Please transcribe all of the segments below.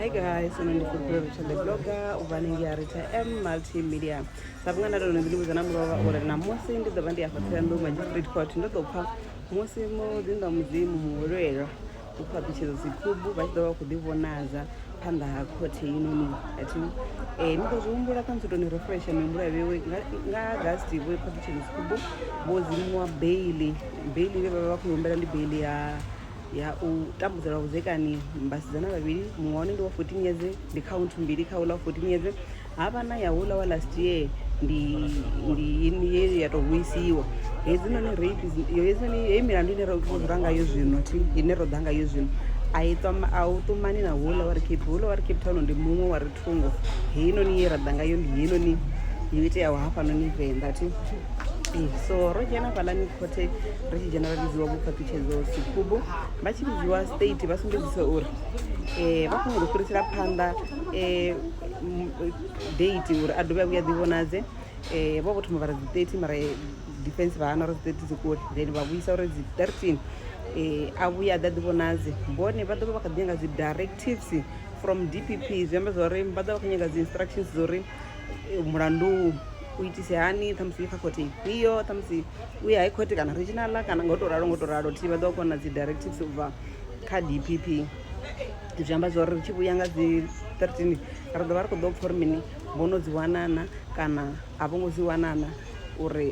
hi guys uno ndi fulfilo richard blogger ubva ningi arita m multimedia sa vhunga nda tono ndilimuza na mulova uri namusi ndi ḓo vha ndi afha tsilandu magistrate court ndo ḓo pfa musi muḓinḓa mudzimu muhulwelwa u phaṱutshedza dzikhubu vha tshi ḓo vha khou ḓivhonadza phanḓa ha khothe yinoni ati um eh, ni ḓo zwi humbula kha musi toni refresha mihumbulo ya vhewe nga agasti vho phaṱutshedza dzikhubu vho dzimuwa beili beili vhe vha vha vha khou humbela ndi beili ya ya u tambudza lwa vhudzekani vhasidzana vhavhili muṅwe wane ndi wa 14 yeze ndi khaunthu mbili kha uḽa wa 14 yeze ha vha na ya uḽa wa last year ndi ndi ye ya tou vhuisiwa hedzinoni rape hedzinoni heyi milandu ine ro dzula ngayo zwino thi ine ro ḓa ngayo zwino a i ṱoma a u ṱumani na houḽa wa ri cape houḽa wa ri cape town ndi muṅwe wa ri thungo heinoni ye ra ḓa ngayo ndi heinoni yo iteaho hafhanoni venḓa thi so ro dzhena fhaḽani khothe ri tshi dzhena vha vhidziwa vhuphaṱhutshedzo sikubu vha tshi vhidziwa state vha sumbedzisa uri um vha khou nyanga u fhirisela phanḓa um date uri a dovhe a vhuya ḓivhonadze um vho vho thoma vha ri dzi thirty mara defense vha hana uri dzi thirty dzi kule then vha vhuisa uri dzi thirteen um a vhuya a ḓa ḓivhonadze bone vha ḓovha vha kha ḓi nyanga dzi directives from d p p zwi amba zwa uri vha ḓovha vha khou nyanga dzi instructions dza uri mulandu kuitise hani ṱhamusi i faculty ifhio ṱhamusi u ya high court kana regional kana ngo to ralo ngo to ralo thi vha ḓo kona dzi directives u bva kha dpp zwi amba zwa uri ri tshi vhuya nga dzi 13 ri ḓo vha ri khou ḓo pfha uri mini vho no dzi wanana kana a vho ngo dzi wanana uri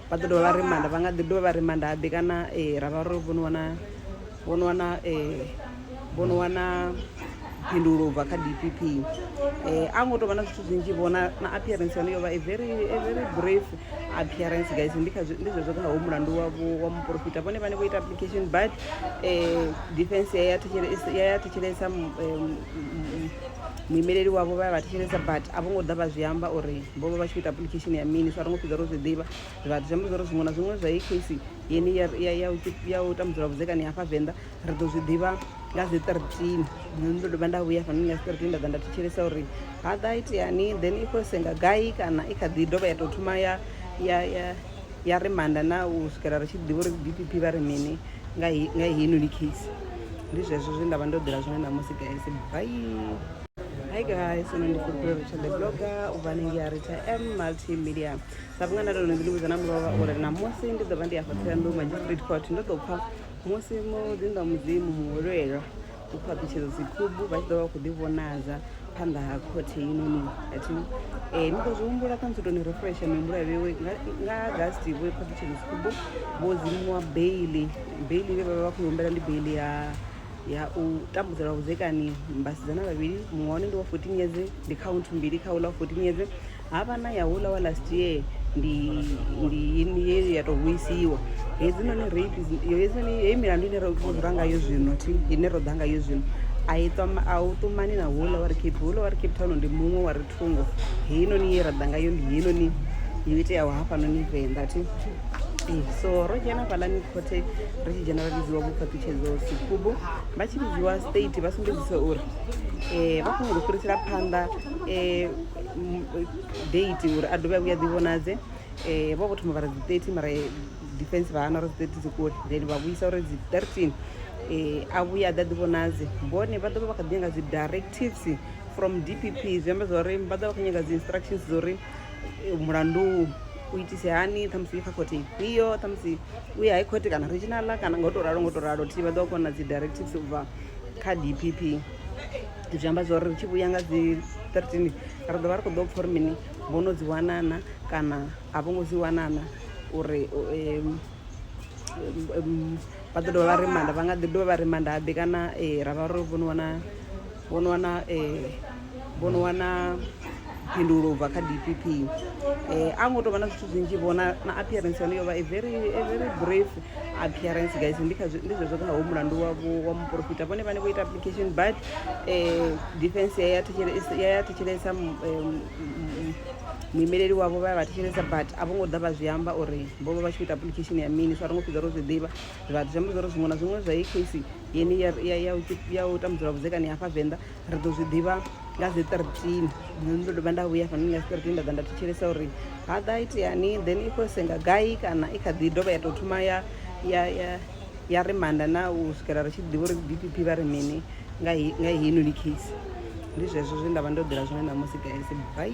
vha ḓo dovha vha rimanda vha nga ḓi dovha vha rimanda habe kana ra vha ro vho no wana vho no wana um vho no wana phindulo ubva kha d p p um a ngo tovha na zwithu zwinzhi vhona na appearance yone yo vha a very a very brief appearance guys ndi kha ndi zwezwo kha ho mulandu wa wa muporofita vhone vhane vho ita application but um defense ya ya thetshelesa ya ya thetshelesa muimeleli wavho vha ya vha thetshelesa but a vho ngo ḓa vha zwi amba uri vho vha vha tshi khou ita application ya mini so a ri ngo fhedza ro zwi ḓivha vhathu zwi amba zwa uri zwiṅwe na zwiṅwe zwa ecasi yeni ya u tambudzela vhudzekani hafha venḓa ri ḓo zwi ḓivha nga dzi thirteen nṋe ndo dovha nda vhuya hafhanoni nga dzi thirteen nda ḓa nda thetshelesa uri ha ḓa iteani then i khou senga gai kana i kha ḓi dovha ya tou thoma ya ya ya ya ri manda na u swikela ri tshi ḓivha uri d p p vha ri mini nga heinoni case ndi zwezwo zwe nda vha ndo ḓela zwone ṋamusi guys bai Hi guys, and I'm Blogger, Ubanengi Arita M Multimedia. sa vhunga nda lone zwiḽimu dzana mulova uri ṋamusi ndi ḓo vha ndi afha ṱhoyandou magistrate court ndo ḓo pfha musi muḓinḓa wa mudzimu muhwelelwa u khou aṱutshedza dzikhubu vha tshi ḓo vha khou ḓivhonadza phanḓa ha khothe inoni athi um eh, ni ḓo zwi humbula kha musi toni refresha mihumbulo ya vhewe nga agasti vho i phaṱutshedza dzikhubu vho dzimiwa beili beili vhe vha vha vha khou humbela ndi beili ya ya u tambudzelwa vhudzekani mbasidzana vhavhili muṅwe wane ndi wa fourteen years ndi count mbili kha uḽa wa fourteen years havha na ya hula wa last year ndi ndi ini ye ya tou vhuisiwa hedzinoni rape yo hedzinoni heyi milandu ine ro dzula ngayo zwino thi ine ro ḓa ngayo zwino a i ṱwa a u ṱumani na hula wa ri cape hula wa ri cape town ndi muṅwe wa ri thungo heinoni ye ra ḓa ngayo ndi heinoni yo iteaho hafhanoni venḓa thi ee so ro dzhena fhalani khothe ri tshi dzhena vha vhidziwa vhukhaṱutshedzo sikubu vha tshi vhidziwa state vha sumbedzisa uri um vha khou nyanga u fhirisela phanḓa um date uri a dovhe a vhuya ḓi vhonadze um vho vho thoma vha ri dzi thirty mara defense vha hana uri dzi thirty dzi kule then vha vhuisa uri dzi thirteen um a vhuya a ḓa ḓi vhonadze bone vha ḓo vha vha kha ḓi nyanga dzi directives from d p p zwi amba zwa uri vha ḓo vha kha nyanga dzi instructions dza uri mulandu u itise hani ṱhamusi uye kha khothe ifhio ṱhamusi uye high court kana regionala kana nga u to ralo nga u to ralo thi vha ḓo kona dzi directives u bva kha d p p zwi amba zwa uri ri tshi vhuya nga dzi 13 ri ḓo vha ri khou ḓo pfha uri mini vho no dzi wanana kana a vho ngo dzi wanana uri vha ḓo dovha vha rimanda vha nga ḓi dovha vha rimanda habe kana ra vha ro vho no wana vho no wana vho no wana phindulo ubva kha DPP eh a ngo to vha na zwithu zwinzhi vhona na appearance yone yo vha a very a very brief appearance guys ndi kha ndi zwezwo kha ho mulandu wa wa muporofita vhone vhane vho ita application but eh defense ya thetshelesa ya thetshelesa muimeleli wavho vha ya vha thetshelesa but a vho ngo ḓa vha zwi amba uri vho vha vha tshi ita application ya mini so a ri ngo fhedza ro zwi ḓivha zwa zwi amba zwa uri zwiṅwe na zwiṅwe zwa i case yeni ya ya ya u tambudzelwa vhudzekani hafha venḓa ri ḓo zwi ḓivha nga dzi thirteen ndo dovha nda vhuya hafhanoni nga dzi thirteen nda ḓa nda thetshelesa uri ha ḓa iteani then i khou senga gai kana i kha ḓi dovha ya tou thoma ya ya ya ya ri manda na u swikela ri tshi ḓivha uri d p p vha ri mini nga heinoni case ndi zwezwo zwe nda vha ndo ḓela zwone ṋamusi guys bai